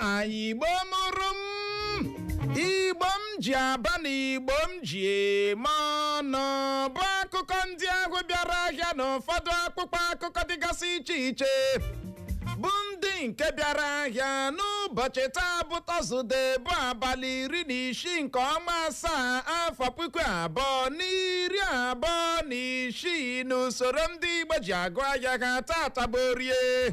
anyị igbo mụrụ m igbo m ji aba na igbo m ji eme ọnụ bụ akụkọ ndị ahụ bịara ahịa na ụfọdụ akpụkpọ akụkọ dịgasị iche iche bụ ndị nke bịara ahịa n'ụbọchị taa bụ tọzụde bụ abalị iri na isii nke ọnwa asaa afọ puku abụọ na iri abụọ na isii n'usoro ndị igbo ji agụ ahịa ha tata bụ orie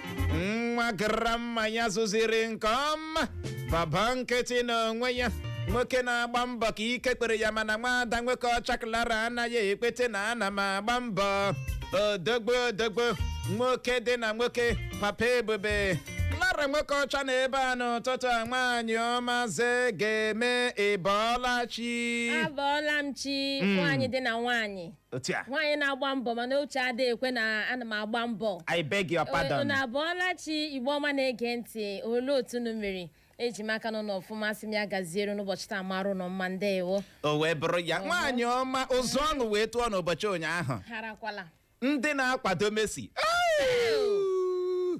nwa grandma ya zụziri nke ọma baba nkịtị n'onwe ya nwoke na-agba mbọ ka ike kpere ya mana nwaada nwoke ọcha clara anaghị ekpete na ana m agba mbọ odogbo odogbo nwoke dị na nwoke papa ebube clara nwoke ọcha na ebe a n'ụtụtụ a nwaanyị ọma ze ga-eme ị bọọla chi abọọla m chi nwaanyị dị na nwaanyị otu a nwaanyị na-agba mbọ mana uche adịghị ekwe na ana m agba mbọ i beg your pardon unu abọọla chi igbo ọma na-ege ntị olee otu unu mere eji m aka na unu nọ ọfụma asị m ya gaziere unu ụbọchị taa mara unu mma ndewo o wee bụrụ ya nwaanyị ọma ụzụ ọṅụ wee tụọ n'ụbọchị ụnyaahụ harakwala ndị na-akwado Messi Au!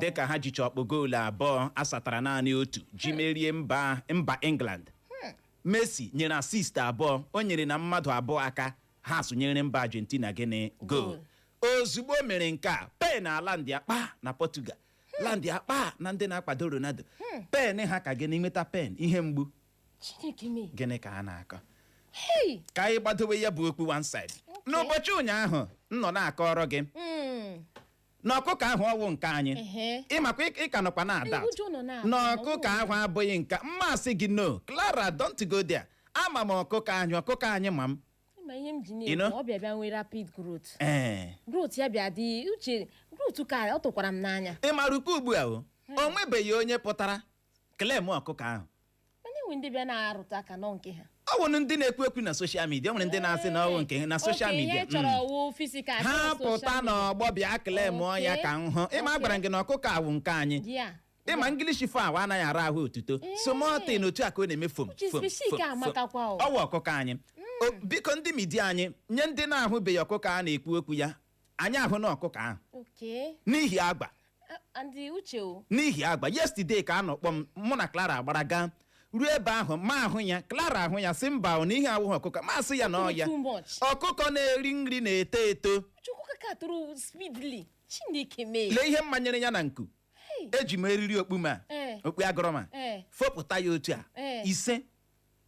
dịka ha jicha ọkpụ goolu abụọ asatara naanị otu ji merie mba mba England Messi nyere assist abụọ o nyere na mmadụ abụọ aka ha sụnyere mba Argentina gịnị goolu ozugbo mere nke a pain alandịakpa na Portugal landịakpa na ndị na-akwado Ronaldo pain ha ka gịnị nweta pain ihe mgbu gịnị ka a na-akọ ka anyị gbadowe ya bụ okpu one side n'ụbọchị ụnyaahụ m nọ na-akọrọ gị na ọkụkọ ahụ ọ wụ nke anyị Ehe. ị makwa ị- ị ka nọkwa na ada Ee, ụjọ nọ na-atụ na m, ọ ọkụkọ bụrụ- ahụ abụghị nke m asị gị no Clara don't go there ama m ọkụkọ anyị ọkụkọ anyị ma m ma ihe m ji You know? na-ekwu ọ bịa bịa nwee rapid growth ee growth ya bịa dị uche growth ka ọ tụkwara m n'anya ị ma rukwa ugbu a o o nwebeghị onye pụtara claim ọkụkọ ahụ mana e nwere ndị bịa na-arụta aka na ọ nke ha ọ bụ ndị na-ekwu ekwu na social media nwere ndị na-asị na ọ wụ nke ha na social Oke, media ihe chọrọ wụ physical ha chọrọ pụta social media. n'ọgbọ bịa claim ya Okay. ka m hụ ị ma Okay. agwara m gị na ọkụkọ a wụ nke anyị Yeah. ị ma English fowl anaghị ara ahụ otuto Ee. small thing otu a ka ọ na-eme fom Uche fom, species fom, ka fom. amakakwa o. ọ wụ ọkụkọ anyị O, biko ndị media anyị nye ndị na-ahụbeghị ọkụkọ a na-ekwu okwu ya anyị ahụ na ọkụkọ ahụ Okay. n'ihi agba Uh, and the uche o. n'ihi agba yesterday ka a nọkpọ m mụ na clara gbara gaa ruo ebe ahụ mụ ahụ ya clara ahụ ya sị mba ọ na ihe a wụghị ọkụkọ mụ asị ya na ọ ya Too much. ọkụkọ na-eri nri na-eto eto Chukwu kaka tụrụ speedily. Chineke mee. lee ihe m manyere ya na nku Hey. eji m eriri okpu m a Eh. okpu agụ m a Eh. fopụta ya otu a Eh. ise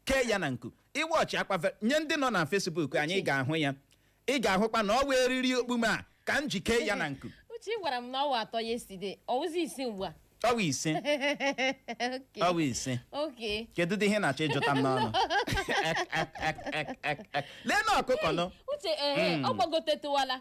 kee ya na nku iwọchị akpa ve- nye ndị nọ na Facebook anyị ị ga-ahụ ya ị ga-ahụkwa na ọ wụ eriri okpume a ka m ji kee ya na nku uche ị gwara m na ọ wụ atọ yesterday ọ wụzi ise ugbu a ọ wụ ise Okay. ọ wụ ise Okay. kedụdị ihe ị na-achọ ịjụta m n'ọnụ lee na ọkụkọ nọ uche ehe ọ gbagotetụwala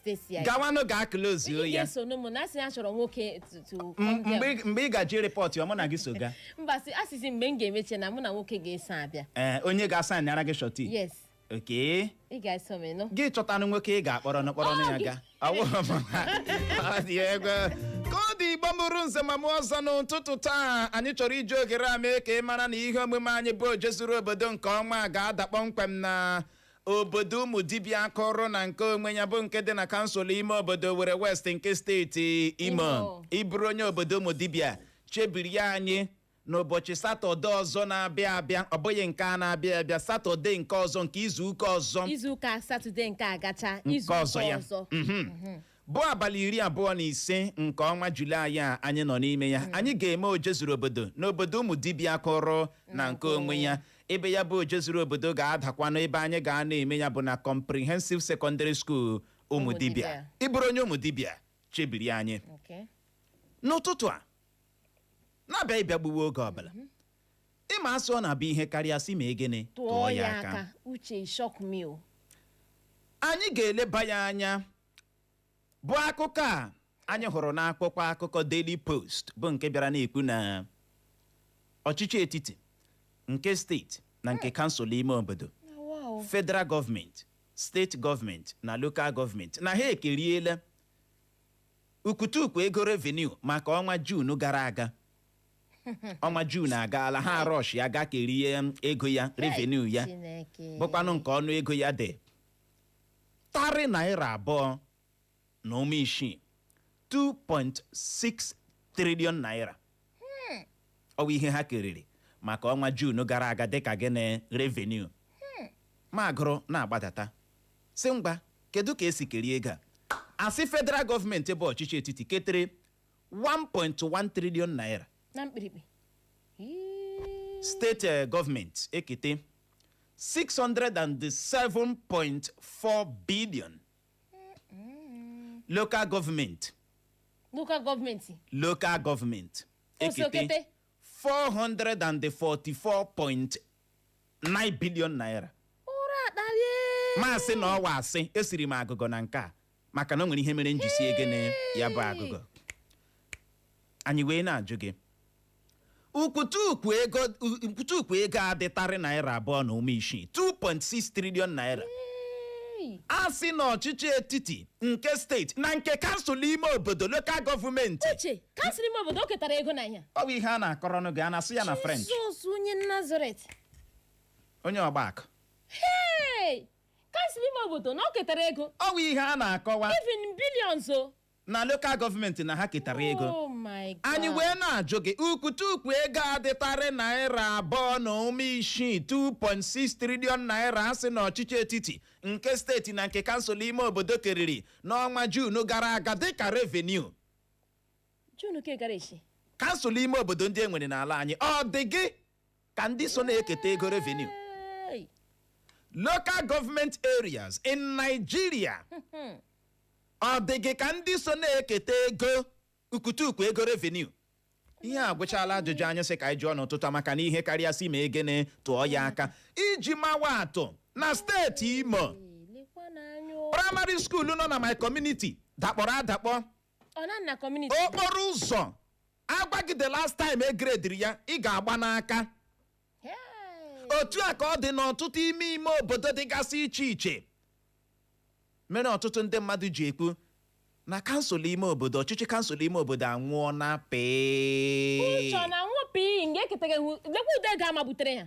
station ya gawanụ gaa klozuo Onye ya ga-eso n'ụmụ na asị ya chọrọ nwoke to- to M- come there. mgbe ị- mgbe ị gaji rịpọtụ ya mụ na gị so gaa mba sị asịsị mgbe m ga-emeche na mụ na nwoke ga-eso abịa Ee, onye ga-asaịnara gị surety yes okay ị ga-eso m ịnụ gị chọtanụ nwoke ị ga-akpọrọnụ kpọrọnụ ya gaa ka ọ dị Igbo mụrụ nze ma mụọ ọzọ n'ụtụtụ taa anyị chọrọ iji oghere a mee ka ị mara na ihe omume anyị bụ ojezuru obodo nke ọnwa a ga-ada kpọmkwem na obodo Ụmụdibịa kwụrụ na nke onwe ya bụ nke dị na kansụl ime obodo Owere West nke steeti Imo ị bụrụ onye obodo Ụmụdibịa chebiri ya anyị n'ụbọchị satọde ọzọ na-abịa abịa ọ bụghị nke a na-abịa abịa satọde nke ọzọ nke izuụka ọzọ izuụka satọde nke a gacha nke izuụka ọzọ ya ọzọ Mhm. bụ abalị iri abụọ na ise nke ọnwa julaị a anyị nọ n'ime ya anyị ga-eme ojezuru obodo n'obodo Ụmụdibịa kwụrụ na nke onwe ya ebe ya bụ ojezuru obodo ga-adakwanụ ebe anyị ga-anọ eme ya bụ na comprehensive secondary school Ụmụdibịa ị bụrụ onye Ụmụdibịa chebiri anyị n'ụtụtụ a na-abịa ị bịa gbuwe oge ọbụla ị ma asụ ọ na-abụ ihe karịa sị ma egene tụọ ya aka anyị ga-eleba ya anya bụ akụkọ a anyị hụrụ n'akwụkwọ akụkọ Daily Post bụ nke bịara na-ekwu na ọchịchị etiti nke steeti na nke kansụl ime obodo federal gọọmenti steeti gọọmenti na lokal gọọmenti na ha ekeriela ukwutukwu ego revenue maka ọnwa Juun gara aga ọnwa Juun agaala ha arọshịa gaa kerie ego ya revenue ya bụkwanụ nke ọnụ ego ya dị tarị naira abụọ na ụma isii 2.6 trillion naira ọ bụ ihe ha keriri maka ọnwa Juun gara aga dịka gịnị revenue m agụrụ na-agbadata sị ngwa kedu ka e si kerie ego a a sị federal gọọmenti bụ ọchịchị etiti ketere 1.1 trillion naira na mkpirikpi Ii. steeti eh, gọọmenti ekete 607.4 billion local gọọmenti ekete 444.9 billion naira ụra akpalie m asị na ọ wụ asị esiri m agụgọ na nke a maka na o nwere ihe mere m ji sie gịnị ya bụ agụgọ anyị wee na-ajụ gị ukwutukwu ego ukwutukwu ego adịtarị naira abụọ na ụma isii 2.6 trilion naira Hey. a sị na ọchịchị etiti nke steeti na nke kansụl ime obodo lokal gọọmenti uche kansụl ime obodo o ketara ego na ya ọ bụ ihe a na-akọrọnụ gị a na-asụ ya na french jizọs onye nazaret onye ọgba akụ hey! kansụl ime obodo na o ketara ego ọ bụ ihe a na-akọwa even billions o na lokal gọọmenti na ha ketara ego oh my god anyị wee na-ajụ gị ukwutukwu ego adịtarị naira abụọ na ụma isii 2.6 trilion naira a sị na ọchịchị etiti nke steeti na nke kansụl ime obodo keriri n'ọnwa juun gara aga dịka revenue juun nke gara echi kansụl ime obodo ndị e nwere n'ala anyị ọ dị gị ka ndị so na-eketa ego revenue Hey! local government areas in Nigeria ọ dị gị ka ndị so na-eketa ego ukwutukwu ego revenue ihe a gwụchala ajụjụ anyị sị ka anyị jụọ n'ụtụtụ a maka na ihe karịa si ma egene tụọ ya aka iji mawa atụ na steeti Imo Hey, lekwa n'anya o. praịmarị skuulu nọ na my community dakpọrọ adakpọ ọ nọ na kọmuniti okporo ụzọ a gwa gị the last time e grediri ya ị ga-agba n'aka Hey! otu a ka ọ dị n'ọtụtụ ime ime obodo dịgasị iche iche mere ọtụtụ ndị mmadụ ji ekwu na kansụl ime obodo ọchịchị kansụl ime obodo anwụọna pii uche ọ na-anwụ pii nga eketaghị lekwa ụdị ego a na-ebutere ya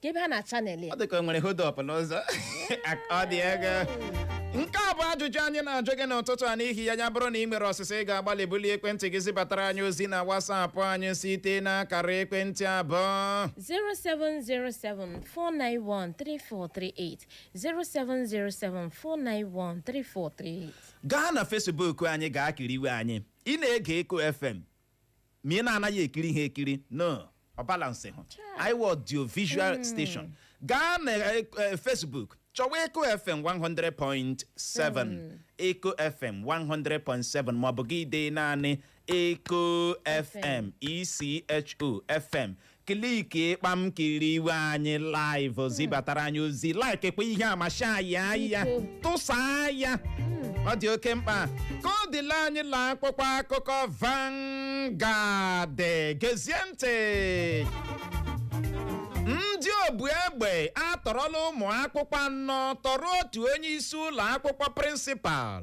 kee ebe ha na channel ya ọ dị ka o nwere hold up n'ụzọ ọ dị egwu nke a bụ ajụjụ anyị na-ajụ gị n'ụtụtụ a n'ihi ya ya bụrụ na ị nwere ọsịsa ị ga-agbalị bulie ekwentị gị zibatara anyị ozi na wasapụ anyị site n'akara ekwentị a bụ 07074913438 07074913438 gaa na fesbuk anyị gaa kiriwe anyị ị na-ege eko fm ma ị na-anaghị ekiri ha ekiri no ọ balansịhụ anyị wụ audio visual station gaa na eh, eh, facebook chọwa eko fm 100.7 eko fm 100.7 maọbụ gị dee naanị eko fm echo fm kliki kpam kiriwe anyị live zibatara anyị ozi like kwa ihe a ma share ya ya tụsaa ya ọ dị oke mkpa ka ọ dịla anyị laa akwụkwọ akụkọ Vanguard gezie ntị ndị obu egbe atọrọla ụmụ akwụkwọ anọ tọrọ otu onye isi ụlọ akwụkwọ prịnsịpal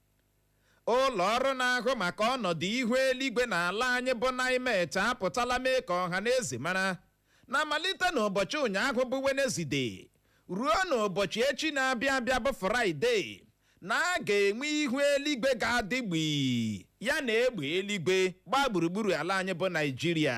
ụlọ ọrụ na-ahụ maka ọnọdụ ihu eluigwe n'ala anyị bụ NIMET apụtala mee ka ọha na eze mara na malite n'ụbọchị ụnyaahụ bụ Wenezde ruo n'ụbọchị echi na-abịa abịa bụ Fraịde na a ga-enwe ihu eluigwe ga-adị gbii ya na egbe eluigwe gbaa gburugburu ala anyị bụ Naịjirịa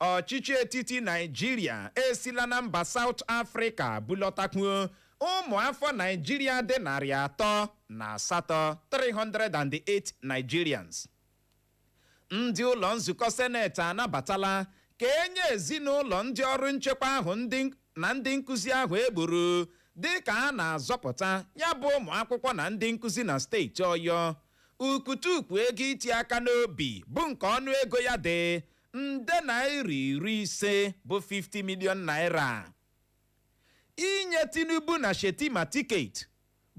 ọchịchị etiti naịjirịa esila na mba saụt afrịka bulọtakwuo ụmụafọ naịjirịa dị narị atọ na asatọ 308 nigerians ndị ụlọ nzukọ seneti anabatala ka e nye ezinụlọ ndị ọrụ nchekwa ahụ na ndị nkụzi ahụ e gburu dịka a na-azọpụta ya bụ ụmụ akwụkwọ na ndị nkụzi na steeti ọyọ Ukwutukwu ego iti aka n'obi bụ nke ọnụ ego ya dị nde naira iri ise bụ 50 million naira. Inye Tinubu na Shetima tiketi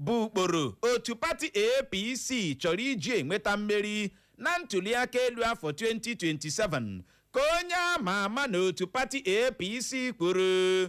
bụ ụkporo otu pati APC chọrọ iji enweta mmeri na ntuliaka elu afọ 2027 ka onye ama ama n'otu pati APC kwuru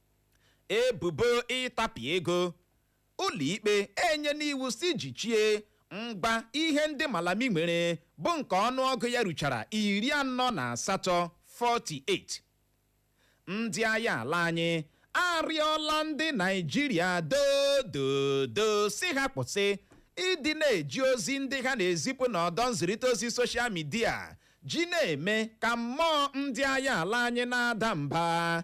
ebubo ịtapị ego ụlọikpe enyena iwu sị jichie ngwa ihe ndị malami nwere bụ nke ọnụọgụ ya ruchara iri anọ na asatọ 48 ndị agha ala anyị arịọla ndị naịjirịa dododo sị ha kwụsị ịdị na-eji ozi ndị ha na-ezipụ n'ọdọ nzirịta ozi soshal midia ji na-eme ka mmụọ ndị agha ala anyị na-ada mba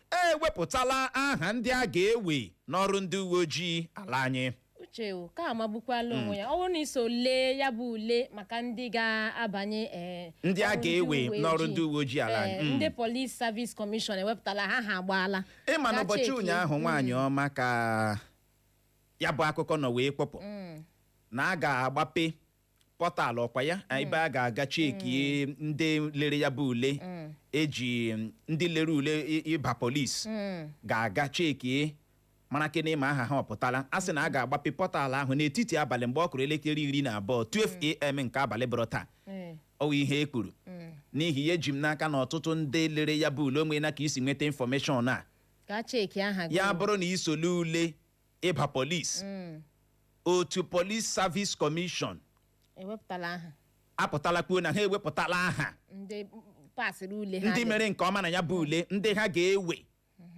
e wepụtala aha ndị a ga-ewe n'ọrụ ndị uwe ojii ala anyị uche o ka amagbukwala onwe ya ọ bụrụ na i so lee ya bụ ule maka ndị ga-abanye ọrụ uwe ojii. eh, Ndị a ga-ewe n'ọrụ ndị uwe ojii ala anyị. Eh, Mm. ndị polis savis kọmishọn ewepụtala aha agbaala Ka cheki. ị ma n'ụbọchị ụnyaahụ nwaanyị ọma ka ya bụ akụkọ nọ wee kpọpụ Mm. na a ga-agbape pọtalụ ọ kwa ya ebe a ga-aga cheki ndị lere ya bụ ule e ji mm, ndị lere ule ị- ịba polis Mm. ga-aga cheki marakene ma aha ha ọ pụtala a sị na a ga-agbape pọtalụ ahụ n'etiti abalị mgbe ọ kụrụ elekere iri na abụọ 12am nke abalị bọrọ taa Eh. ọ wụ ihe e kwuru Mm. n'ihi ya eji m n'aka na ọtụtụ ndị lere ya bụ ule o nwena ka i si nweta infọmeshọn a ka cheki aha gị ya bụrụ na i so lee ule ịba polis mm. otu polis savis kọmishọn ewepụtala aha apụtala kwuo na ha ewepụtala aha ndị pasịrị ule ha ndị mere nke ọma na ya bụ ule ndị ha ga-ewe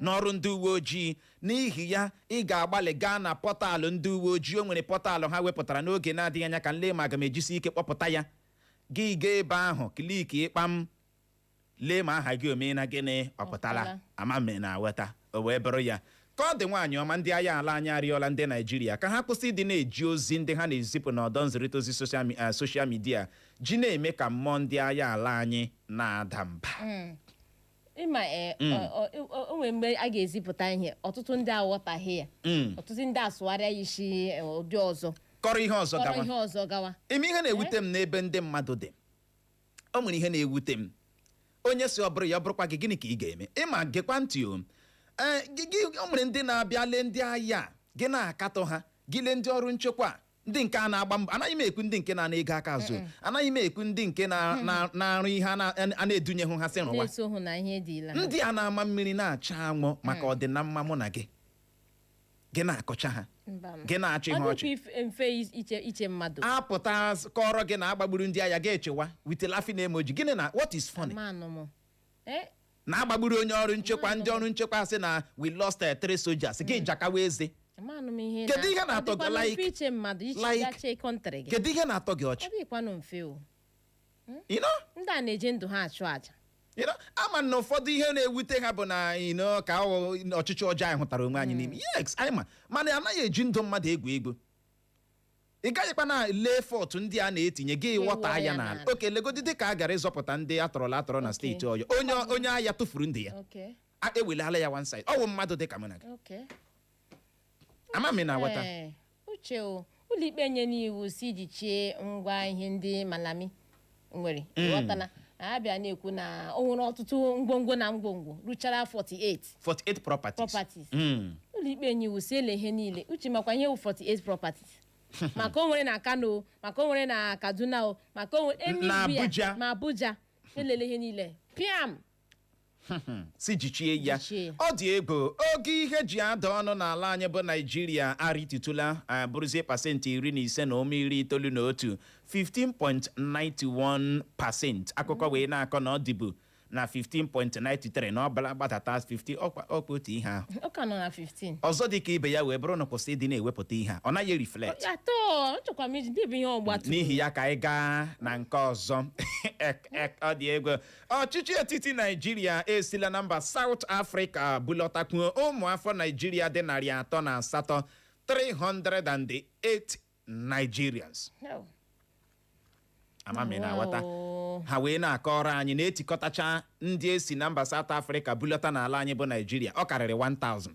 n'ọrụ ndị uwe ojii n'ihi ya ị ga-agbalị gaa na pọtalụ ndị uwe ojii o nwere pọtalụ ha wepụtara n'oge na-adịghị anya ka m lee ma aga m ejisi ike kpọpụta ya gị gaa ebe ahụ kliki kpam lee ma aha gị omee na gịnị ọ pụtala Ọ pụtala. ama m ị na-aghọta o wee bụrụ ya ka ọ dị nwaanyị ọma ndị agha ala anyị arịọla ndị naijiria ka ha kwụsị ịdị na-eji ozi ndị ha na-ezipụ n'ọdọ nzirịta ozi soshal mi- eh, soshal midia ji na-eme ka mmụọ ndị agha ala anyị na-ada mba ị ma ee, ọ- ọ- ọ- o nwere mgbe a ga-ezipụta ihe ọtụtụ ndị aghọtaghị ya Mm. ọtụtụ ndị asụgharịa ya isi eh, ụdị ọzọ kọrọ ihe ọzọ kọrọ gawa ihe ọzọ gawa ị ma ihe na-ewute m n'ebe ndị mmadụ dị o nwere ihe na-ewute m onye sị ọ bụrụ ya ọ bụrụkwa gị gịnị ka ị ga-eme ị ma gekwa ntị o ee gị gị o nwere ndị na-abịa lee ndị agha a, gị na-akatọ ha gị lee ndị ọrụ nchekwa a, ndị nke a na-agba mbọ anaghị m ekwu ndị nke na-ana ego aka azụ anaghị m ekwu ndị nke na- na- na-arụ ihe a na- a na-edunyehụ ha sị rụwa na-esohụ na ihe dị ila ndị a na-ama mmiri na-acha anwụ maka ọdịnamma mụ na gị gị na-akọcha ha Mba m. gị na-achị ha ọ ọchị dịkwa ife- mfe iche iche mmadụ apụta s- kọọrọ gị na a gbagburu ndị agha ga-echewa with laughing emoji gịnị na what is funny manụ m Eh, na a gbagburu onye ọrụ nchekwa ndị ọrụ nchekwa sị na we lost eh, three soldiers gị jakawa eze manụ m ihe Kedu ihe na-atọ gị? Ọ dịkwanụ mfe Like- iche mmadụ iche like- gache country gị kedu ihe na-atọ gị ọ ọchị dịkwanụ mfe o you know ndị a na-eji ndụ ha achụ aja you know a ma na ụfọdụ ihe na-ewute ha bụ na you know ka ọ ọchịchị ọjọọ anyị hụtara onwe anyị n'ime yes anyị ma mana a naghị eji ndụ mmadụ egwu egwu ị gaghịkwanụ ele effort ndị a na-etinye gị Ga-ewe water ya ya n'ala n'ala. okay legodi dị ka a gara ịzọpụta ndị a tọrọla atọrọ na steeti ọyọ onye onye agha tụfuru ndụ ya okay a ewelala ya one side ọ wụ mmadụ dị ka mụ na gị okay ama m ị na-aghọta Ee, uche o ụlọikpe nyere iwu sị jichie ngwa ihe ndị malami nwere ghọtala ha bịa na-ekwu na o nwere ọtụtụ ngwongwo na ngwongwo ruchara 48 48 properties properties Mm. ụlọikpe nye iwu sị ele ihe niile uche ị makwa ihe wụ 48 properties ma nke o nwere na kano o, maka o nwere na kaduna o ma nke o nwere Na anywhere, Abuja. ma abuja elele ihe niile piam sị jichie ya Jichie ya. ọ dị egwu ogo ihe ji ada ọnụ n'ala anyị bụ naijiria arịtutụla a bụrụzie pasentị iri na ise na ụma iri itoolu na otu 15.91 pasent akụkọ wee na-akọ na ọ dịbu na 15.93 na ọ bịala gbadata 15 ọkwa ọkwa otu ihe ahụ ọ ka nọ na 15 ọzọ dị ka ibe ya wee bụrụ na kwụsị ịdị na-ewepụta ihe a ọ naghị reflect at all nchekwa m iji debe ihe ọgba tum n'ihi ya ka anyị gaa na nke ọzọ Ek- ek- ọ dị egwu ọchịchị etiti naijiria esila na mba saụt afrịka bulọtakwuo ụmụafọ naijiria dị narị atọ na asatọ 308 nigerians No. ama m ị na-aghọta Wow. ha wee na-akọrọ anyị na e tikọtachaa ndị e si na mba saụt afrịka bulọta n'ala anyị bụ naijiria ọ karịrị 1000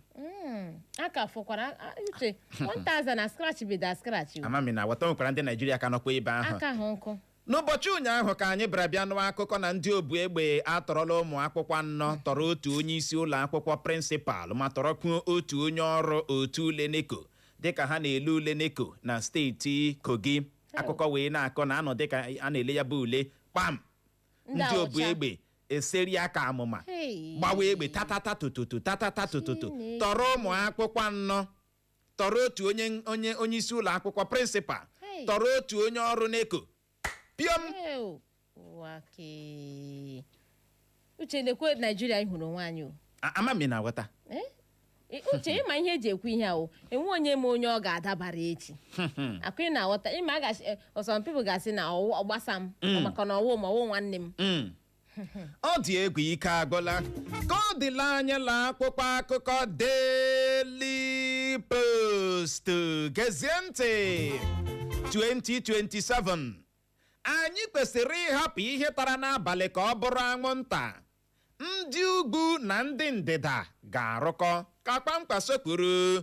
Mm, a ka fọkwara a- a- uche 1000 na scratch bido a scratch o. ama m ị na-aghọta o nwekwara ndị naijiria ka nọkwa ebe ahụ aka ha nkụ N'ụbọchị ụnyaahụ ka anyị bịara bịa nụọ akụkọ na ndị obu egbe atọrọla ụmụ akwụkwọ anọ tọrọ otu onye isi ụlọ akwụkwọ prịnsịpal ma tọrọkwuo otu onye ọrụ otu ule neko dịka ha na-ele ule neko na steeti Kogi akụkọ wee na-akọ na anọ dịka a na-ele ya bụ ule kpam ndị obu egbe eseria ka amụma Hey. gbawa egbe tatata tototo tatata tototo Chineke. tọrọ ụmụ akwụkwọ anọ tọrọ otu onye isi ụlọ akwụkwọ prịnsịpal Hey. tọrọ otu onye ọrụ neko piom Ew, ụwa kee. uche lekwe naijiria anyị hụrụ onwe anyị o A- ama m ị na-aghọta Eh? Eh, uche ịma ihe eji ekwu ihe ahụ enwe onye ma onye ọ ga-adabara echi akụ ị na-aghọta ịma a ga-asị eh, some people ga-asị na ọ gbasa m Mm. maka na ọ wụ m ọ wụ nwanne m Mm. ọ dị egwu ike agwụla ka ọ dịla anyị laa akwụkwọ akụkọ Daily Post gezie ntị 2027 anyị kwesịrị ịhapụ ihe tara n'abalị ka ọ bụrụ anwụnta ndị ugwu na ndị ndịda ga-arụkọ ka Kwankwaso kwuru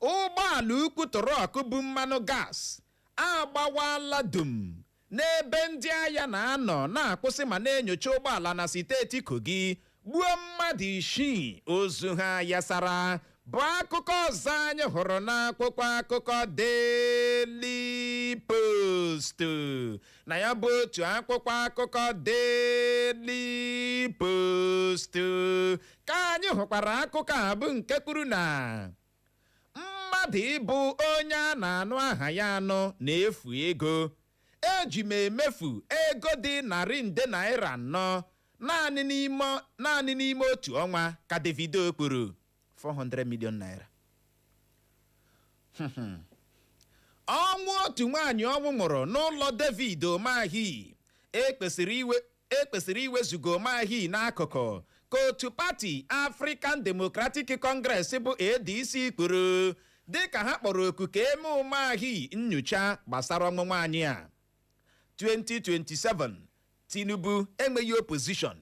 ụgbọala ukwu trọk bu mmanụ gas agbawala dum n'ebe ndị agha na-anọ na-akwụsị ma na-enyocha ụgbọala na steeti Kogi gbuo mmadụ isii ozu ha yasara bụ akụkọ ọzọ anyị hụrụ n'akwụkwọ akụkọ Daily Post na ya bụ otu akwụkwọ akụkọ Daily Post ka anyị hụkwara akụkọ a bụ nke kwuru na mmadụ ịbụ onye a na-anụ aha ya anụ na-efu ego eji m emefu ego dị narị nde naira anọ naanị n'ime otu ọnwa ka Davido kwuru 400 million naira ọnwụ otu nwaanyị ọnwụ nwụrụ n'ụlọ David Umahi e kwesịrị iwe e kwesịrị iwezuga Umahi n'akụkụ ka otu pati African Democratic Congress bụ ADC kwuru dịka ha kpọrọ oku ka e mee Umahi nnyocha gbasara ọnwụ nwaanyị a 2027 Tinubu enweghị opposition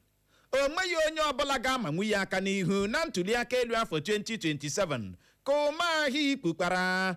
o nweghị onye ọbụla ga-amanwu ya aka n'ihu na ntuliaka elu afọ 2027 ka Umahi kwukwara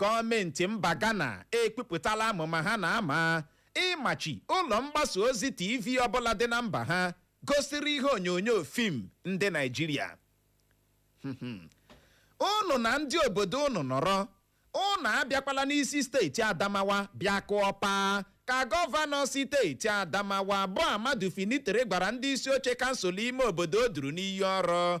Gọọmenti mba Ghana ekwupụtala amụma ha na-ama ịmachi ụlọ mgbasa ozi TV ọbụla dị na mba ha gosiri ihe onyonyo fim ndị Naịjirịa. Ụnụ na ndị obodo ụnụ nọrọ, ụnụ abịakwala n'isi steeti Adamawa bịa kụọ paa, ka gọvanọ siteeti Adamawa bụ Ahmadu Fintiri gwara ndị isi oche kansụl ime obodo o duru n'iyi ọrụ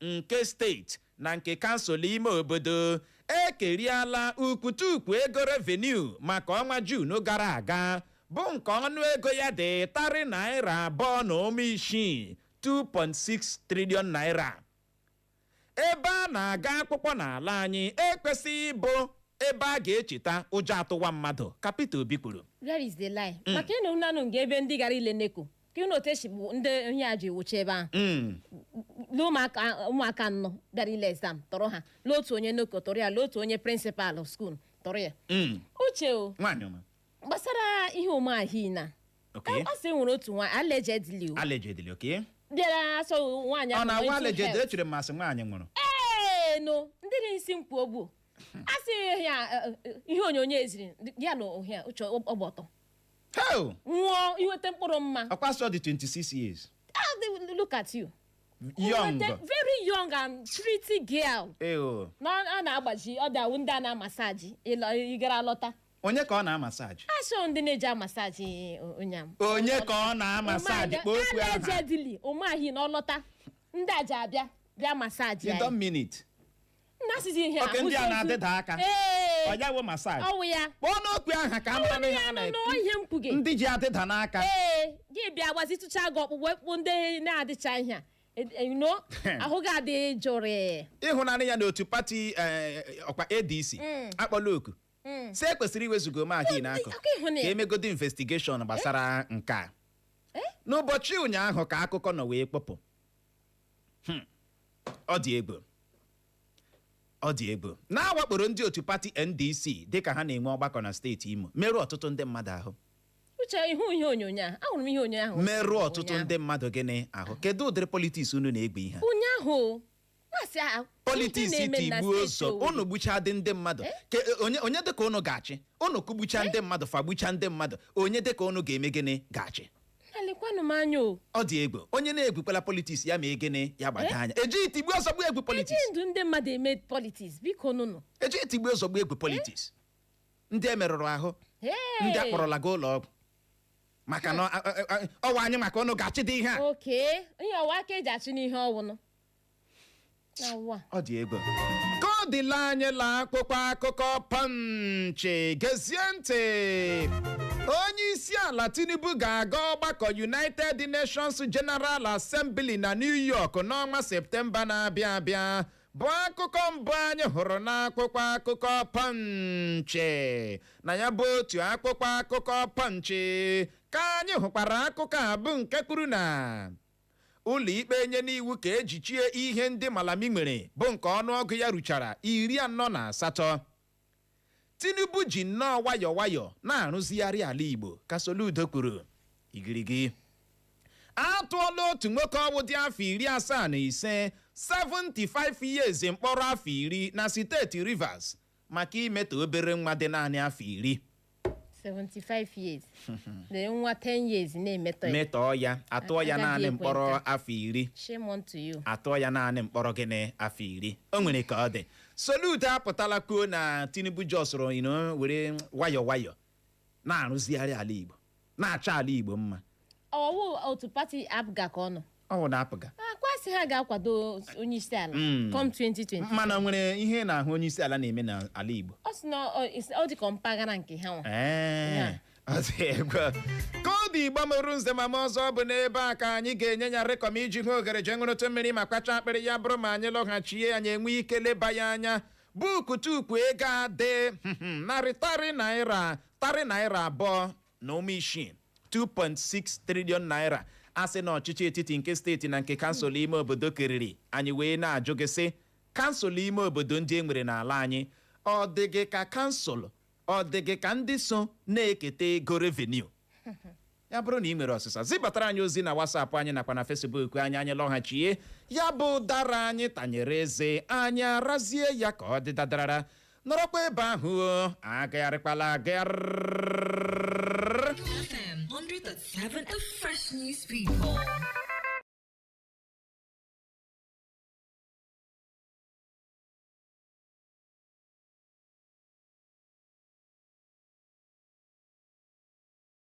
nke steeti na nke kansụl ime obodo ekeriala ukwutukwu ego revenue maka ọnwa Jun gara aga bụ nke ọnụ ego ya dị tarị naira abụọ na ụma isii 2.6 trilion naira ebe a na-aga akpụkpọ n'ala anyị ekwesịghị ịbụ ebe a ga-echeta ụjọ atụwa mmadụ ka Peter Obi kwuru Where is the lie? maka ịnụ nanụ nga ebe ndị gara ile NECO ka ịnụ otu esi bụ ndị ihe a ji wuchi ebe ahụ Mm. lee ụmụaka ụmụaka anọ bịara ile exam tọrọ ha lee otu onye NECO tọrọ ya lee otu onye principal school tọrọ ya Mm. Uche o nwaanyị ọma gbasara ihe Umahi na Okay. a sị e nwere otu nwa allegedly o allegedly okay bịara asọ nwaanyị ọ ahụ na-awa mental allegedly health. echere m ma a sị nwaanyị nwụrụ ee no ndị na-esi mkpu ogbu a sị ya eh, eh, ihe onyonyo e ziri ya na ohia Uche ọ gba ọtọ Hei! nwụọ inweta mkpụrụ mma Ọkwa a sị ọ dị 26 years. Ah, they- look at you Young. Inweta- very young and pretty girl Eyo. na a na-agbaji ọ dawụ ndị a na-amasaji ịlọ- ịgara lọta Onye ka ọ na-amasaji? ashọ ndị na-eji amasaji ụnyam Onye ka ọ na-amasaji? Kpọọ okwu aha. allegedly Umahi na ọ lọta ndị a ji abịa bịa masaji ya You don't mean it. na-asịzi ihe oke ndị a na-adịda aka ọ ya wụ masaji ọ wụ ya kpọọnụ okwu aha ka a mara na ihe a na-ekwu no ihe m kwuge ndị ji adịda n'aka ee gị bịa gbazitụcha gị ọkpụkpụ ekpụ ndị na-adịcha ihe a E- e- no ahụ gị adị jụụ ịhụnanya ya n'otu pati eh, ọkwa ADC akpọọla oku sị ekwesịrị iwezuga Umahi n'akụkụ ịhụ na ka ya. e megodi investigeshọn gbasara nke a n'ụbọchị ụnyaahụ ka akụkọ nọ wee kpọpụ Hmm. ọ dị egwu ọ dị egwu na a wakporo ndị otu pati NDC dịka ha na-enwe ọgbakọ na steeti Imo merụọ ọtụtụ ndị mmadụ ahụ Uche ị hụ ihe onyonyo a ahụrụ m ihe onyonyo ahụ merụọ ọtụtụ ndị mmadụ gịnị ahụ kedu ụdịrị politiks unu na-egwu ihe ụnyaahụ masị a politiks tigbuo zọgbuo unu gbuchadị ndị mmadụ eh? Ke- e, onye onye dị ka unu ga-achị unu kụgbucha eh? ndị mmadụ fagbucha ndị mmadụ onye dị ka unu ga-eme gịnị ga-achị Na-elekwanụ m anya o. ọ dị egwu onye na-egwukwala politiks ya mee gịnị ya gbado anya ejighị tigbuo zọgbuo egwu Ejighị politiks ndụ ndị mmadụ eme politiks biko nụnụ. ejighị tigbuo zọgbuo egwu politiks ndị e merụrụ ahụ Hey! ndị a kpọrọla gaa ụlọ ọgwụ maka na ọ- ọ- ọ- ọ wụ anyị maka unu ga-achịdị ihe a Oke, ihe ọ wụ aka e ji achụ n'ihe ọ wụnụ. na ụwa ọ dị egwu ka ọ dịla anyị la akpụkpọ akụkọ Punch gezie ntị onye isi ala Tinubu ga-aga ọgbakọ United Nations General Assembly na New York n'ọnwa Septemba na-abịa abịa bụ akụkọ mbụ anyị hụrụ n'akwụkwọ akụkọ Punch na ya bụ otu akwụkwọ akụkọ Punch ka anyị hụkwara akụkọ a bụ nke kwuru na Ụlọikpe enyena iwu ka e jichie ihe ndị Malami nwere bụ nke ọnụọgụ ya ruchara iri anọ na asatọ. Tinubu ji nnọọ wayọ wayọ na-arụzigharị ala Igbo, ka Soludo kwuru. Igirigi. A tụọla otu nwoke ọwụ dị afọ iri asaa na ise 75 years mkpọrọ afọ iri na steeti Rivers maka imetọ obere nwa dị naanị afọ iri 75 years the nwa 10 years na-emetọ ya metọọ ya atụọ ya Agadi naanị ekwe mkpọrọ nka. afọ iri shame unto you atụọ ya naanị mkpọrọ gịnị afọ iri o nwere ka ọ dị Soludo apụtala kwuo na Tinubu jọsụrụ nnọọ were nwayọ nwayọ na-arụzigharị ala igbo na-achọ ala igbo mma ọ wụ otu pati APGA ka ọ nọ ọ bụ na APGA akwasị ha ga-akwado onye isi ala Mm. come 2020 mana nwere ihe ị na-ahụ onye isi ala na-eme n'ala igbo ọ sị na ọ- is- ọ dị ka mpaghara nke ha nwa Ee, Ya. ọ dị egwu. ka ọ dị Igbo mụrụ nze mụọ ọzọ bụ n'ebe a ka anyị ga-enye ya rịkọm iji hụ oghere jee ṅụrụtụ mmiri ma kwachaa akpịrị ya bụrụ ma anyị lọghachie anyị enwe ike leba ya anya bụ ukwutukwu ego a dị narị tarị naira abụọ na ụma isii 2.6 trillion naira a sị na ọchịchị etiti nke steeti na nke kansụl ime obodo keriri anyị wee na-ajụ gị sị kansụl ime obodo ndị e nwere n'ala anyị ọ dị gị ka kansụl ọ dị gị ka ndị so na-eketa ego revenue ya bụrụ na ị nwere ọsịsa zibatara anyị ozi na WhatsApp anyị nakwa na Facebook anyị anyị lọghachie ya bụ ụdara anyị tanyere eze anyị arazie ya ka ọ dị dadarara nọrọkwa ebe ahụ o, agagharịkwala agagharị FM 100.7 The Fresh News People.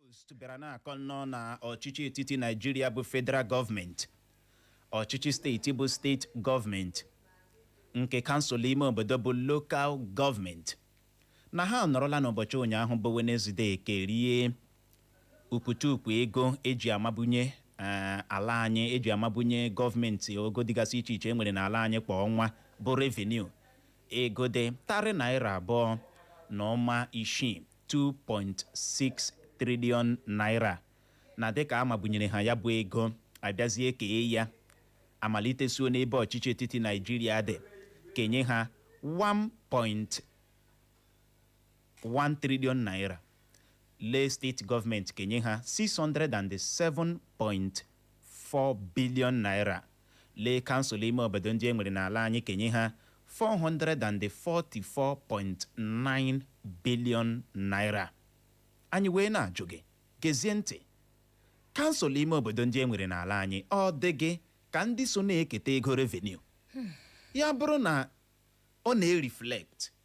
Post bịara na-akọ nnọọ na ọchịchị etiti Naịjirịa bụ federal gọọmenti ọchịchị steeti bụ steeti gọọmenti nke kansụl ime obodo bụ lokal gọọmenti na ha nọrọla n'ụbọchị ụnyaahụ bụ Wenezdee kerie ukwutukwu ego e ji amabunye eh, ala anyị e ji amabunye gọọmenti ogo dịgasị iche iche e nwere n'ala anyị kwa ọnwa bụ revenue ego dị tarị naira abụọ na ụma isii 2.6 triliọn naira na dịka a mabunyere ha ya bụ ego a bịazie kee ya a malitesuo n'ebe ọchịchị etiti Naijiria dị kenye ha 1. 1 trillion naira lee steeti gọọmenti kenye ha 607.4 billion naira lee kansụl ime obodo ndị e nwere n'ala anyị kenye ha 444.9 billion naira anyị wee na-ajụ gị gezie ntị kansụl ime obodo ndị e nwere n'ala anyị ọ dị gị ka ndị so na-eketa ego revenue ya bụrụ na ọ na-eriflekt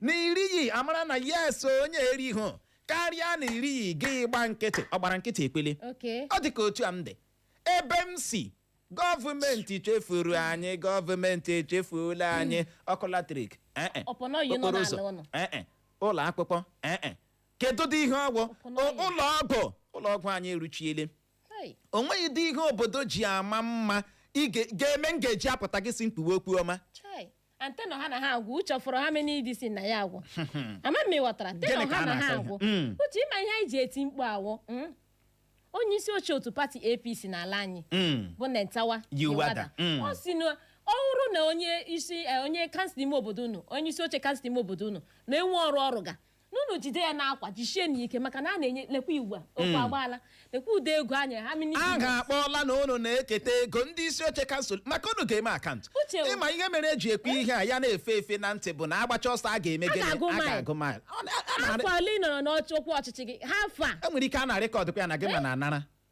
na irighị amara na yes onye erighị karịa na irighị gị gba nkịtị ọ gbara nkịtị ekwele Okay. ọ dị ka otu a m dị ebe m si gọọmenti chefuru anyị gọọmenti echefuola anyị ọkụ latrik eh, eh. Ọpọnọ yi nọ Okporo n'ala ụzọ, ụnụ. eh, eh. ụlọ akwụkwọ eh, eh. kedu dị ihe ọgwụ Ọpọnọ O- yi. ụlọ ọgwụ ụlọ ọgwụ anyị eruchiele Hey. o nweghịdị ihe obodo ji ama mma ị ga- ga-eme m ga-eji apụta gị si m kwuwe okwu ọma Chai. anteno ha na ha agwụ uche fọrọ ha mena idi si na ya agwụ ama m ịghọtara Gịnị teno ka ha a na ha na-akọ agwụ ihe? Mm. uche ịma ihe anyị ji eti mkpu a wụ mm? onye isi oche otu pati apc n'ala anyị Mm. bụ Nentawe Yilwatda, mm. ọ si na ọ bụrụ na onye isi eh, onye kansụl ime obodo unu onye isi oche kansụl ime obodo unu na-enwe ọrụ ọ rụga n'unu jide ya n'akwa jisie n'ike maka na a na-enye lekwa iwu a okwu agbaala lekwa ụdị ego a nyere ha mini a ga-akpọla na unu na-eketa ego ndị isi oche kansụl maka unu ga-eme akaụntụ Uche o. ịma ihe mere e ji ekwu ihe a ya na-efe efe na ntị bụ na agbacha ọsọ a ga-eme gịnị ga-agụ a mile. ga-agụ mile Ọ na- a na- afọ ole ị nọrọ n'ọchị ọkwa ọchịchị gị ha afọ a e nwere ike a na-rekọdụkwa ya na gị ma na anara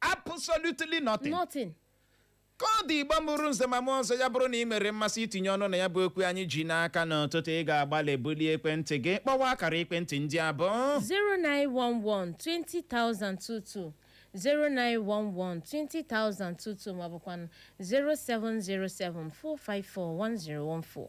absolutely nothing nothing ka ọ dị Igbo mụrụ nze ma mụọ ọzọ ya bụrụ na i nwere mmasị itinye ọnụ na ya bụ okwu anyị ji n'aka n'ụtụtụ ị ga-agbalị bulie ekwentị gị kpọwa akara ekwentị ndị a bụ 0911-20,022 0911-20,022 maọbụkwa 0707-454-1014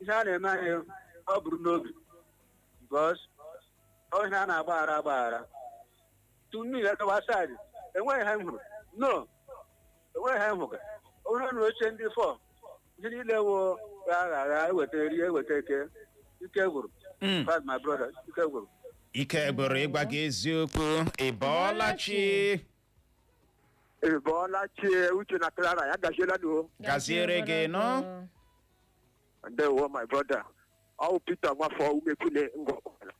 ihe a na-eme anyị ọ bụrụ n'obi because ihe a na-agbaghara agbaghara tunu ya gawa saịdị enweghị ha m hụrụ no enweghị ha m hụrụ onye nụrụ oche ndị fọ ihe niile wo ya agha agha eweta rie eweta eke ike gwụrụ Mm. fad my brother ike gwụrụ ike gwụrụ ịgwa gị eziokwu ị bọọla chi ị bọọla chi Uche na Clara ya gaziere unu o gaziere gị nnọọ ndewo my brother ọ wụ Peter nwafọ Umuekwune Ngor Okpala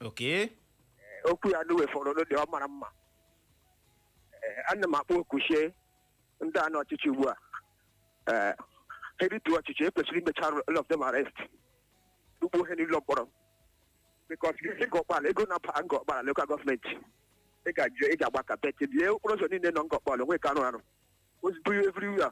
okay okwu ya na wefọrọ n'ụdị ọ mara mma Ee, ana m akpọ oku si ndị a nọ ọchịchị ugbu a Ee, ha rituo ọchịchị e kwesịrị imecha all of them arrest kpọọ ha n'ụlọ mkpọrọ because Ngor Okpala ego na-aba Ngor Okpala lokal gọọmenti ị ga-ajụ ị ga-agba kapeti lie okporo ụzọ niile nọ Ngor Okpala onwe ka arụ arụ ozugbo everywhere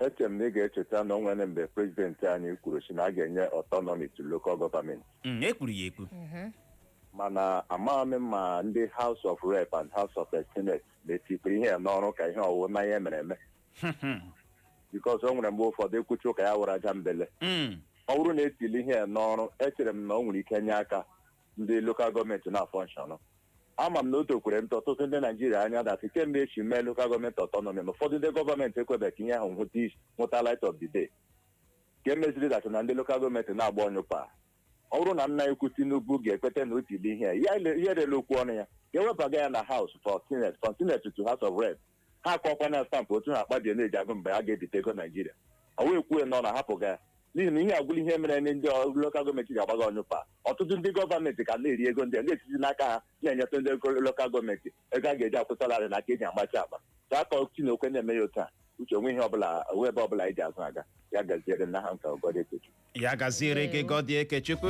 eche m na ị ga-echeta na o nwere mgbe prezidenti anyị kwuru sị na a ga-enye autonomy to local government Mm, e kwuru ya ekwu mana amaghị m ma ndị House of Rep and House of Senate na-etikwa ihe a n'ọrụ ka ihe ọwụwa na ihe mere eme because o nwere mgbe ụfọdụ e kwuchaa ụka ya awụrụ ajambele Mm, ọ bụrụ na e tiile ihe a n'ọrụ echere m na o nwere ike nye aka ndị local government na-afunction ama m na ọ tụkwara ntụ ọtụtụ ndị Naijiria anya that kemgbe e ji mee local government autonomy na ụfọdụ ndị government ekwebeghị ka ihe ahụ hụta light of the day nke meziri that na ndị local government na-agba ọnyụpa ọ bụrụ na nna ukwu Tinubu ga-ekweta na o tiile ihe a ya erela okwu ọnụ ya ga-ewebaga ya na House of Senate from Senate to House of Rep ha akụkwaa na stamp otu ha Akpabio na-eji akụ mgbe a ga-ebite ego Naijiria ọ wụ e kwuo n'ọnụ a hapụga ya n'ihi na ihe agwụla ihe mere ndị local government ji agbaga ọnyụpa ọtụtụ ndị government ka na-eri ego ndị a na-esizi n'aka ha na-enyetụ ndị local government ego a ga-eji akwụ salary na aka e ji agbachi akpa ka akọ Chineke na-eme ya otu a Uche o nwe ihe ọbụla o nwe ebe ọbụla anyị ji azụ aga ya gaziere unu aha m ka wụ Goddy Ekechukwu ya gaziere gị Goddy Ekechukwu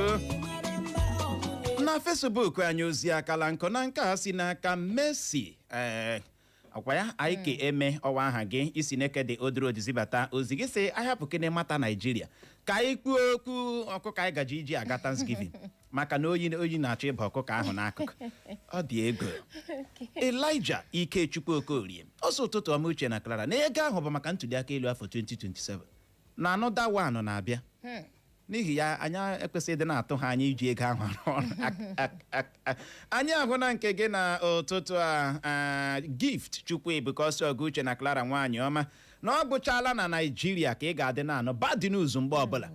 na Facebook anyị ozi akala nkụ na nke a si n'aka Mercy ee akwa ya anyị ka eme ọwa aha gị isi n'eke dị odoro zibata ozi gị sị a hapụkene matter Naijiria ka anyị kwuo okwu ọkụkọ anyị gaje iji aga Thanksgiving maka na oyi na-achọ ịba ọkụkọ ahụ n'akụkụ ọ dị ego Elijah Ikechukwu Okorie ọ sị ụtụtụ ọma Uche na Clara na ego ahụ bụ maka ntuli aka elu afọ 2027 na another one na-abịa hmm. n'ihi ya anyị ekwesịghị ịdị na-atụ ha anya iji ego ahụ arụ ọrụ anyị ahụna nke gị n'ụtụtụ a Gift Chukwuebuka ọ sị ọga Uche na Clara nwaanyị ọma na ọ bụchala na Naijiria ka ị ga-adị na-anụ bad news mgbe ọbụla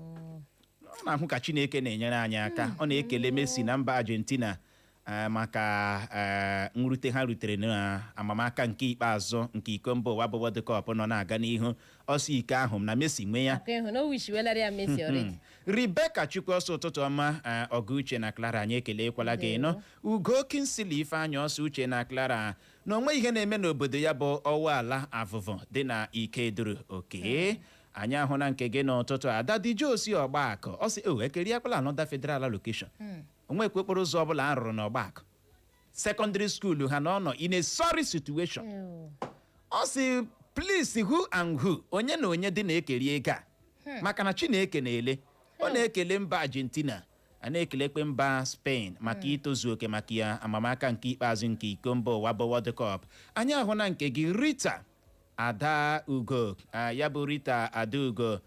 ọ na-ahụ ka Chineke na-enyere anyị aka ọ na-ekele Messi na mba Argentina eh, maka eh, nrute ha rutere n'amamaka nke ikpeazụ nke iko mba ụwa bụ World Cup nọ na-aga n'ihu ọ sị iko ahụ na Messi nwe ya Aka ịhụ na o wishiwelara ya Messi already. Rebecca Chukwu ọ sị ụtụtụ ọma eh, ọga Uche na Clara anyị ekelekwala gị ị nụ Ugo Kingsley Ifeanyị ọ sị Uche na Clara na o nwe ihe na-eme n'obodo ya bụ Ọwalla Avuvu dị na Ikeduru okay anyị ahụna nke gị n'ụtụtụ Ada Jesus Ọgbaku ọ sị e kerikwala another federal allocation o nwekwa okporo ụzọ ọbụla a rụrụ n'Ọgbaku secondary school ha na ọ nọ in a sorry situation Ew. ọ sị please who and who onye na onye dị na-ekeri ego a maka na Chineke na-ele ọ na-ekele mba Argentina na-ekelekwa mba Spain maka itozu oke maka ya amamaka nke ikpeazụ nke iko mba ụwa bụ World Cup anyị ahụna nke gị Rita Adaugo Ah, ya bụ Rita Adaugo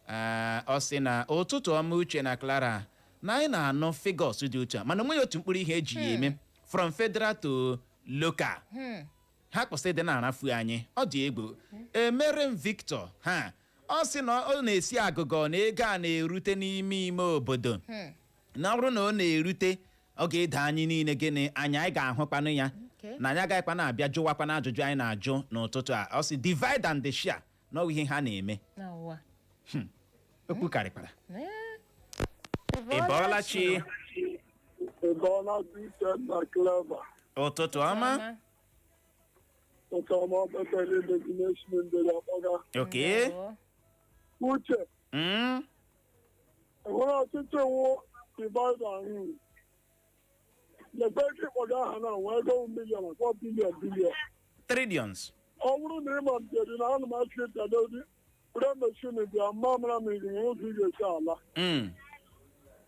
Ah, ọ sị na ụtụtụ ọma Uche na Clara na anyị na-anụ figures dị otu a mana onweghị otu mkpụrụ ihe eji ya eme from federal to local ha kwụsị ịdị na-arafu anyị ọ dị egwu emerem victor ha ọ sị na ọ na-esi agụgọ na ego a na-erute n'ime ime obodo na ọ bụrụ na ọ na-erute ọ ga-edo anyị niile gịnị anya anyị ga-ahụkwanụ ya Okay. na anyị agaghịkwa na-abịa jụwakwana ajụjụ anyị na-ajụ n'ụtụtụ a ọ sị divide and share na ọ bụ ihe ha na-eme hmm. okwu karịkwara ị bọọla chi ụtụtụ ọma okay uche hmm? enwere ọtụtụ iwu divide and rule lekwa ego ị kpọga aha na nwe ego million a kpọọ billion billion trillions ọ bụrụ na ị ma mbieri na ana m achị ịtadodi were meshin bịa mma mara mmiri nwe ụzọ ị ga-esi ala Mm.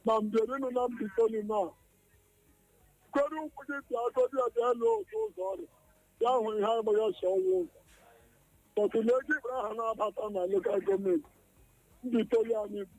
ma mbieri nọ na mbaitoli na kwere ụkwụ gị bịa agodi ya bịa lụọ otu ụzọ orie ahụ ihe agbaghị ọsọ ọnwụ ụzọ but lee ego ị kpọrọ aha na-abata na lokal gọọmenti mbaitoli anyị bụ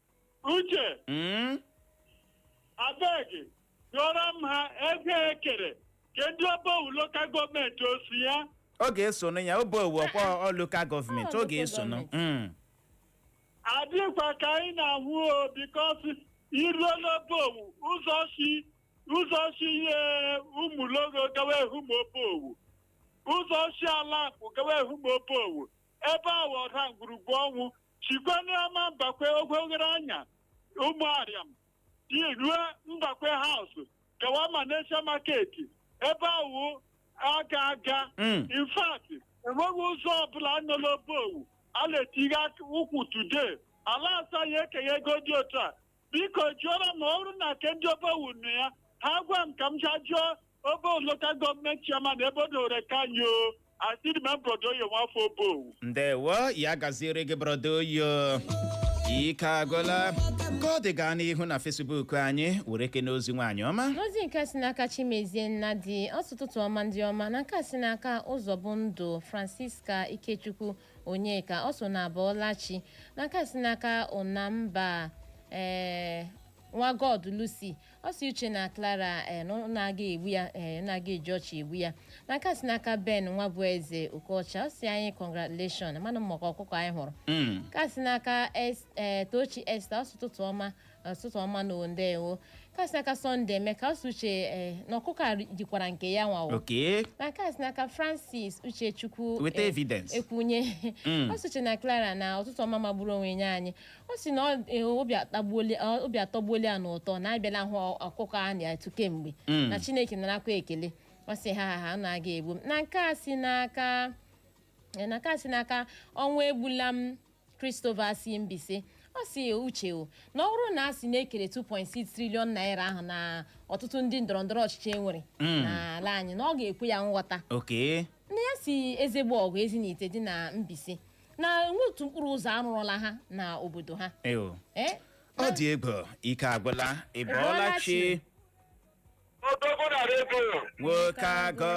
uche Mm. abeg yọrọ m ha ego ekere nke ndị obowu lokal gọọmenti o so ya ọ ga-esonụ ya obowu ọkwa ọ lokal gọọmenti ọ ga-esonụ Mm. adịkwa ka anyị na-ahụ o because i ruo n'obowu ụzọ si ụzọ si ihe ụmụlogho gawa ehume obowu ụzọ si ala akpụ gawa ehume obowu ebe ahụ ọ ndagwurugwu ọnwụ shikwanụ ama mbakwe ogwogoroanya ụmụariam i ruo mbakwe house gawa malaysia market ebe ahụ a ga-aga Mm. in fact enweghị ụzọ ọbụla a nọ la obowu a na-etighe ụkwụ today a la-asị ya ekenye ego dị otu a biko jụọrọ m ọ bụrụ na nke ndị obowu nọ ya ha gwa m ka m jaa jụọ obowu lokal gọọmenti chairman ebe o dowere nke anyị o asịrị m brọda oyo nwafọ obowu ndewo ya gaziere gị brọda oyo ike agwụla ka ọ dị gaa n'ihu na facebook anyị were kene ozi nwaanyị ọma n'ozi nke si n'aka chimezie nnadi ọ sị ụtụtụ ọma ndị ọma na nke a si n'aka ụzọbụndụ francisca ikechukwu Onyeka ọ sị ụnụ abọọla chi na nke a si n'aka Unamba ee nwa god lucy ọ sị uche na clara ee na ụnụ ga-egbu ya ee ụnụ ga-eji ọchị egbu ya na nke a si n'aka ben nwabueze okocha ọ sị anyị congratulation mana maka ọkụkọ anyị hụrụ Mm. nke a si n'aka Es- ee, tochi esther ọ sị ụtụtụ ọma ụtụtụ ọma na ndewo nke a si n'aka sọnde emeka ọ sị uche eh, na ọkụkọ a jikwara nke ya nwayọ okay nke a si n'aka francis uchechukwu weta eh, evidence ekwunye Mm. ọ sị uche na clara na ụtụtụ ọma magburu onwe nye anyị ọ sị na ọ- eh, obi atagbuola- ọ- obi atọgbuola ya n'ụtọ na abịala hụ ọkụkọ a na-atụ kemgbe Mm. na chineke narakwa ekele ọ sị ha ha ha unu aga egbu m na nke a si n'aka eh, na nke a si n'aka ọnwa egbula m Christopher si Mbaise ọ sị uche o na ọ bụrụ na a sị na e kere 2.6 triliọn naira ahụ na ọtụtụ ndị ndọrọndọrọ ọchịchị enwere n'ala anyị na ọ ga-ekwe ya nghọta okay na ya si Eziagbogu Ezinihitte dị na Mbaise na enwe otu mkpụrụ ụzọ arụrụla ha na obodo ha eo Eh? ọ dị egwu ike agwụla ị bọọla chi Odogwu na redio nwoke agụ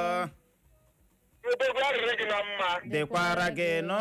odogwu ya dịrị gị na mma dịkwara gị nụ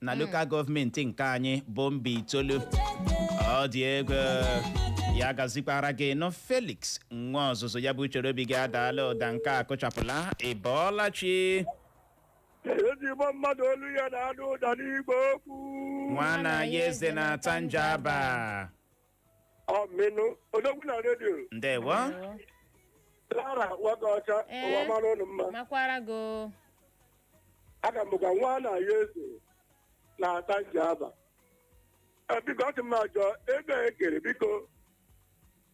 na lokal gọọmenti nke anyị bụ mbaitoolu ọ dị egwu ya gazikwaara gị nụ felix nwa ọzụzụ ya bụ uchere obi gị adaala ụda nke a kụchapụla ị bọọla chi ezigbo mmadụ olu ya na-ada ụda n'igwe okwu nwana ya eze na atta njaba Ọ menụ odogwu na redio ndewo Clara nwoke ọcha Ee. ụwa mara ụnụ mma. makwara gị o. Aha m bụkwa nwa na ya eze na Atta Njaba. Ee, Biko ọ sị m ajụọ ego a ekere biko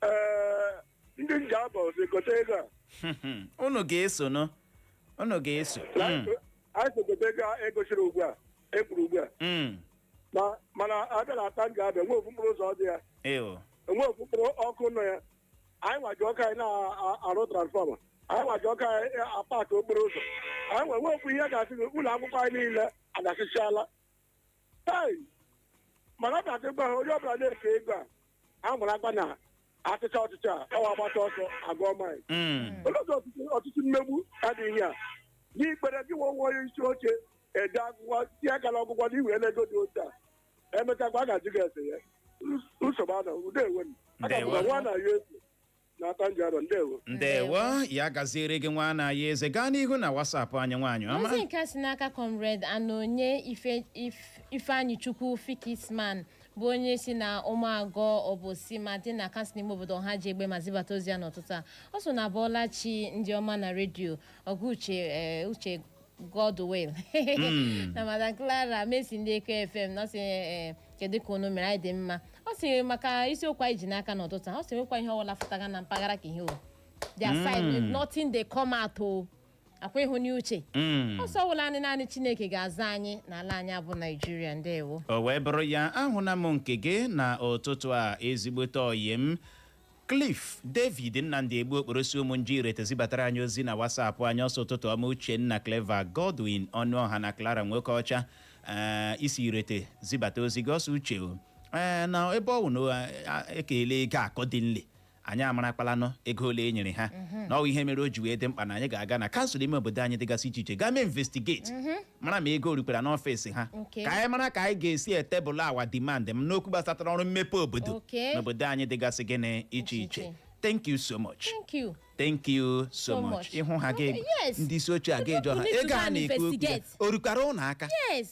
ee ndị Njaba o so ekete ego a. unu ga-eso nụ unu ga-eso Na Mm, anyị so kete ego a egosiri ugbu a ekwuru ugbu a. mm. Ma- mana a bịa na atta njaba enwe ofu mkpụrụ ụzọ ọ dị ya eo enwe ofu mkpụrụ ọkụ nọ ya anyị nwa ji aka anyị na-arụ transfọma anyị nwa ji aka anyị apatụ okporo ụzọ anyị nwe nwe ofu ihe ga-asị gị ụlọ akwụkwọ anyị niile adasịchala hei mana ọ ga-adị gwa ha onye ọbụla na-efe ego a a marakwa na a chịchaa ọchịchị a ọ wụ agbata ọsọ agụọ maịl Mm. olee ụzọ ọtụtụ ọtụtụ mmegbu adịghị ya n'ikpere gị nwe onwe onye isi oche ede akwụkwọ si akara ọgwụgwọ na i were ego dị otu a emechakwa a ga-ajụ gị ese ya nsogbu anọ udo ewe m aha m Ndewo. nwa na ya eze na Atta Njaba ndewo ndewo ya gaziere gị nwa na ya eze gaa n'ihu na wasapụ anyị nwaanyị ọma ozi nke a si n'aka comrade anonye Ife- If- ifeanyi chukwu fikisman bụ onye si na ụmụagwọ obosima dị na kansụl ime obodo ọhaji egbema zibata ozi ya n'ụtụtụ a ọ sị unu abọọla chi ndị ọma na redio ọga uche eh, uche Godwin na Madam Clara Messi ndị Eko FM na ọ sị eh, kedu ka unu mere anyị dị mma ọ sị maka isiokwu anyị ji n'aka n'ụtụtụ a, ọ sị nwekwa ihe ọbụla fụtaga na mpaghara ka ihe o their side with nothing dey come out o akwa ịhụ n'uche Mm. ọ sị ọ wụla anyị naanị Chineke ga-azọ anyị n'ala anyị a bụ Naijiria ndewo o wee bụrụ ya ahụna m nke gị na ụtụtụ a ezigbote ọyị m Cliff David Nnamdi Egbu Okporo si Ụmụnji Irete zibatara anyị ozi na WhatsApp anyị ọ sị ụtụtụ ọma Uchenna Clever Godwin Ọnụọha na Clara Nwokeọcha ee i si Irete zibata ozi gị ọ sị Uche o ee na ebe ọ wụ na a- e keele ego accordingly anyị amarakpalanụ ego ole e nyere ha na ọ bụ ihe mere o ji wee dị mkpa na anyị ga-aga na kansụl ime obodo anyị dịgasị iche iche gaa mee investigate mara ma ego o rukwara n'ọfịs ha Okay. ka anyị mara ka anyị ga-esi e-table our demand n'okwu gbasatara ọrụ mmepe obodo Okay. n'obodo anyị dịgasị gịnị iche Iche iche iche. thank you so much thank you thank you so So much much. ịhụ ha ga Okay, yes. ndị isi oche a gaa jụọ ha You need to ego go a and na-ekwu okwu ya investigate. o rukwara unu aka yes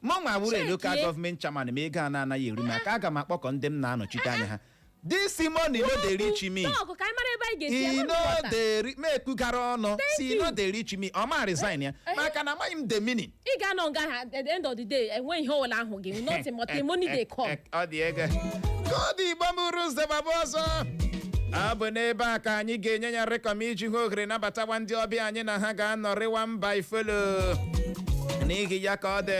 mụ nwa wụrụ Check lokal ye. gọọmenti chairman ma ego a na-anaghị eru m aka aga m akpọkọ ndị m na-anọchite anya ha this money no dey reach me Talk ka anyị mara ebe anyị ga-esi e ebe no nghọta. dey re- m ekwugara unu sị e no dey reach me ọ ma resign ya Eh. maka na amaghị m the meaning ị ga-anọ nga ha at the end of the day enwe ihe ọbụla ahụghị nothing but the money dey come ọ dị ego ka ọ dị igbo mụrụ ụzọ gbaba ọzọ ọ bụ n'ebe a ka anyị ga-enye ya rịkọm iji hụ ohere nabatawa ndị ọbịa anyị na ha ga-anọrịwa before long n'ihi ya ka ọ dị